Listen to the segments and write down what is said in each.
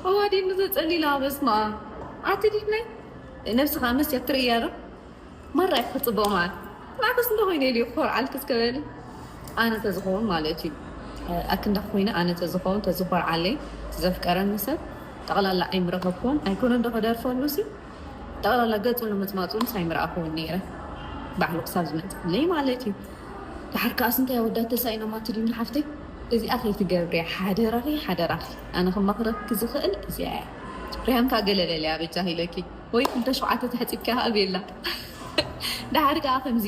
ኣዋዲድ ንዘጸሊላ በስመኣም ኣቲ ድሕነይ ነብስካ መስትያት ትርእያ ዶ ማራ ኢኪ ክትጽብቂ ማዓት ንዓክስ እንተ ኮይነ ኢሉ ክኮርዓልኪ እስከ በሊ ኣነ ተዝከውን ማለት እዩ ኣክንዳኪ ኮይነ ኣነ ተዝከውን ተዝኮርዓለይ ዘፍቀረኒ ሰብ ጠቅላላ ኣይምረከብክዎን ኣይኮነን ዶ ክደርፈሉሲ ጠቕላላ ገጹ ንምጽማጹን ሳይ ምርኣኹዎን ነይረ ባዕሉ ክሳብ ዝመጽኣለይ ማለት እዩ ድሓር ከኣስ እንታይ ኣወዳት ተሳኢኖማ ትብልኒ ሓፍተይ እዚኣ ከይትገብርያ ሓደራኺ ሓደራኺ ኣነ ክመኽረኪ ዝኽእል እዚኣ እያ ሪሃም ከኣ ገለ በልያ በጃኺ ኢለኪ ወይ ክልተ ሸውዓተ ተሕጺብኪ ሃብየላ ድሓር ከኣ ከምዚ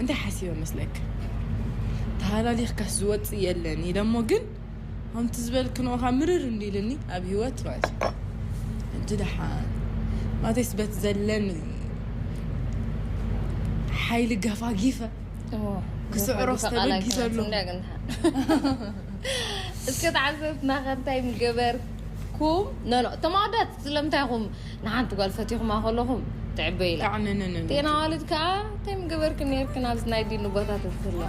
እንታይ ሓሲበ መስለኪ ተሃላሊኽካስ ዝወፅእ የለን ኢለ እሞ ግን ከምቲ ዝበልክንኦ ካብ ምርር እንዲ ኢልኒ ኣብ ሂወት ማለት እዩ ሕጂ ደሓን ማለተይስ በቲ ዘለኒ ሓይሊ ገፋጊፈ ክስዕሮ ዝተበጊሰ ኣሎ እስከ ተዓዘብትና ከ እንታይ ምገበርኩም ኖኖ እቶም ኣወዳት ስለምንታይ ኢኹም ንሓንቲ ጓል ፈቲኹማ ከለኹም ትዕበ ኢላ ታዕንንን ቴን ኣዋልድ ከዓ እንታይ ምገበርክን ነርክን ኣብዚ ናይ ዲኑ ቦታ ተዝህልዋ